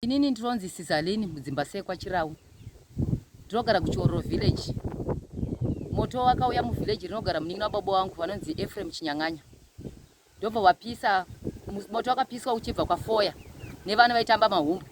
Inini ndinonzi Sizaleni mudzimba sekwa Chirau. Ndinogara kuChiororo village. Moto wakauya muvillage rinogara munin'ina wababa wangu vanonzi Ephraim Chinyang'anya. Ndobva vapisa moto wakapiswa uchibva kwafoya nevana vaitamba mahumbu.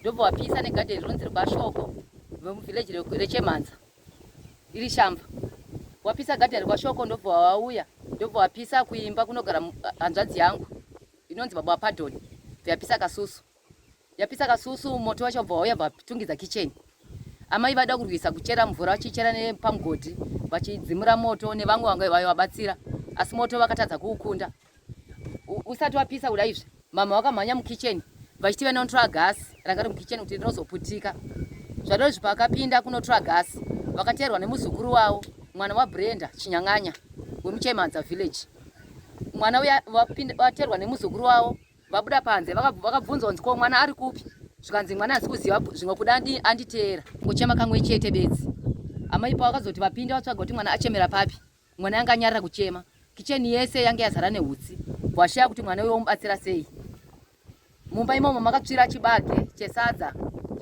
Ndobva vapisa negadheni rinonzi rwashoko vemuvillage rechemhanza iri shamba. Wapisa gadheni rwashoko ndobva wauya ndobva wapisa kuimba kunogara hanzvadzi yangu inonzi baba wapadoni. Ndiyapisa kasusu. yapisa kasusu moto wacho bva wauya bvatungidza kicheni amai vada kurwisa kuchera mvura vachichera nepamugodhi vachidzimura moto nevamwe vanga vayo vabatsira asi moto vakatadza kuukunda usati wapisa kuda izvi mama vakamhanya mukicheni vachiti vanonotora gasi ranga ri mukicheni kuti rinozoputika zvadozvi pakapinda kunotora gasi vakateerwa nemuzukuru wavo mwana wabrenda chinyang'anya wemuchemanza village mwana uya vateerwa nemuzukuru wavo vabuda panze vakabvunza kunzi ko mwana ari kupi zvikanzi mwana asi kuziva zvimwe kuda anditeera kuchema kamwe chete bedzi amai pavo vakazoti vapinde vatsvaga kuti mwana achemera papi mwana yanga anyarira kuchema kicheni yese yange yazara neutsi bwashaya kuti mwana uyo womubatsira sei mumba imomo makatsvira chibage chesadza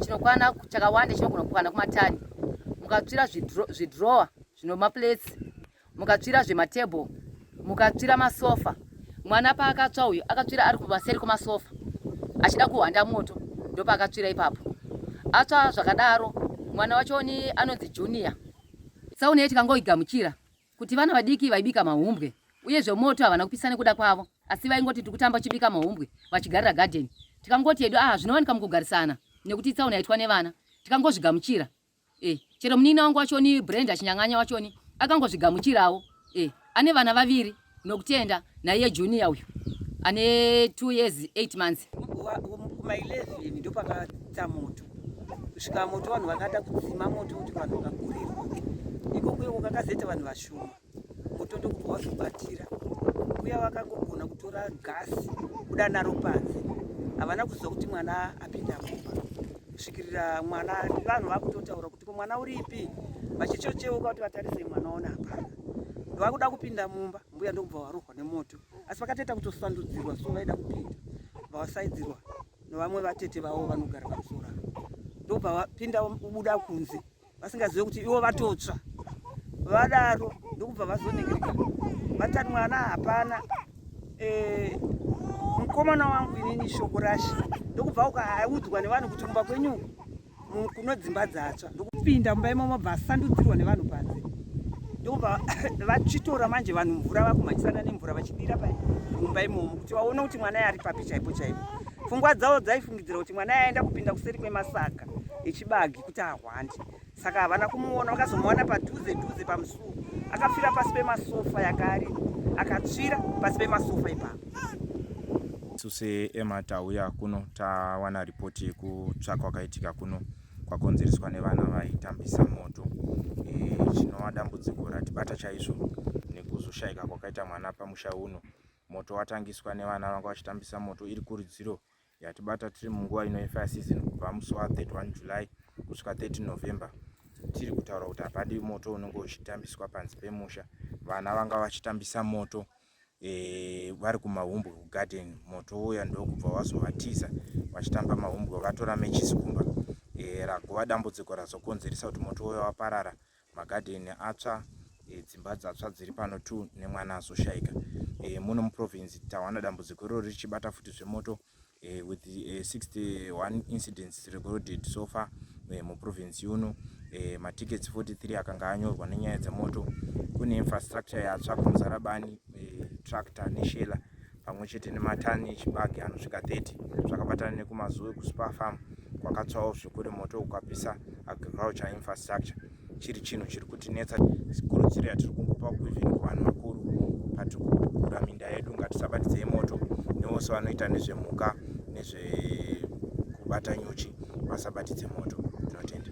chinokwana chakawanda chinogona kukwana kumatani mukatsvira zvidrowa zvinomaplates mukatsvira zvematable mukatsvira masofa mwana paakatsva uyu akatsvira ari kumaseri kwemasofa achida kuhwanda moto ndopaakatsvira ipapo atsva zvakadaro mwana wacho ni anonzi junior tsaona iyo tikangoigamuchira kuti vana vadiki vaibika mahumbwe uye zvemoto havana kupisa nekuda kwavo asi vaingoti tiri kutamba chibika mahumbwe vachigarira gadheni tikangoti hedu aha zvinowanika mukugarisana nekuti tsaona yaitwa nevana tikangozvigamuchira eh, chero munini wangu wachoni brand achinyang'anya wachoni akangozvigamuchirawo eh, ane vana vaviri nokutenda naiye junior uyu ane two years eight months kuma 11 ndopakatsa moto kusvika moto vanhu vakada kudzima moto kuti vanhu vakakurirwa ikokuyo kakazeta vanhu vashoma moto ndokubva wazvibatira uya vakangogona kutora gasi kuda naro panze havana kuziva kuti mwana apinda mumba kusvikirira mwana vanhu vakutotaura kuti komwana uripi vachichocheuka kuti vatarise mwana ona hapana ndovakuda kupinda mumba mbuya ndokubva varohwa nemoto asi vakatoita kutosandudzirwa so vaida kupinda vavasaidzirwa nevamwe vatete vavo vanogara pamusora ndokubva vapinda ubuda kunze vasingazive kuti ivo vatotsva vadaro ndokubva vazonengereka vatani mwana hapana eh, mukomana wangu inini shoko rashe ndokubva ukaudzwa nevanhu kuti kumba kwenyu kuno dzimba dzatsva ndokupinda mumba imomo bva asandudzirwa nevanhu panze ndokubva vachitora manje vanhu mvura vakumhanyisana nemvura vachidira pamumba imomo kuti vaone kuti mwana yari papi chaipo chaipo pfungwa dzavo dzaifungidzira kuti mwana yaenda kupinda kuseri kwemasaga echibagi kuti ahwande saka havana kumuona vakazomuwana padhuze dhuze pamusuwo akafira pasi pemasofa yakaari akatsvira pasi pemasofa ipapo isu seema tauya kuno tawana ripoti yekutsva kwakaitika kuno kwakonzereswa nevana vaitambisa moto e, chinova e, dambudziko ratibata chaizvo nekuzoshaika kwakaita mwana pamusha uno moto watangiswa nevana vanga vachitambisa moto iri kurudziro yatibata tiri munguva ino yefire season kubva musi wa 31 july kusvika 30 november tiri kutaura kuti hapadi moto unenge uchitambiswa panzi pemusha vana vanga vachitambisa moto e, vari kumahumbwe kugarden moto uya ndokubva wazovatiza vachitamba mahumbwe vatora mechisi kumba e, eh, ragova dambudziko razokonzeresa kuti moto uya waparara magadheni atsva e, dzimba dzatsva dziri pano tu nemwana azoshaika e, muno muprovince tawana dambudziko iroro richibata futi zvemoto e, with e, 61 incidents recorded so far e, muprovince yuno e, matickets 43 akanga anyorwa nenyaya dzemoto kune infrastructure yatsva kumuzarabani e, tractor neshela pamwe chete nematani echibage anosvika 30 zvakabatana nekumazuwe kuspar farm kwakatsvawo zvikuri moto ukapisa agriculture infrastructure chiri chinhu chiri kutinetsa kurudziro yatiri kungopa kuivhini kuvanhu vakuru patiri kugura minda yedu ngatisabatidzei moto nevose vanoita nezvemhuka nezvekubata nyuchi vasabatidze moto tinotenda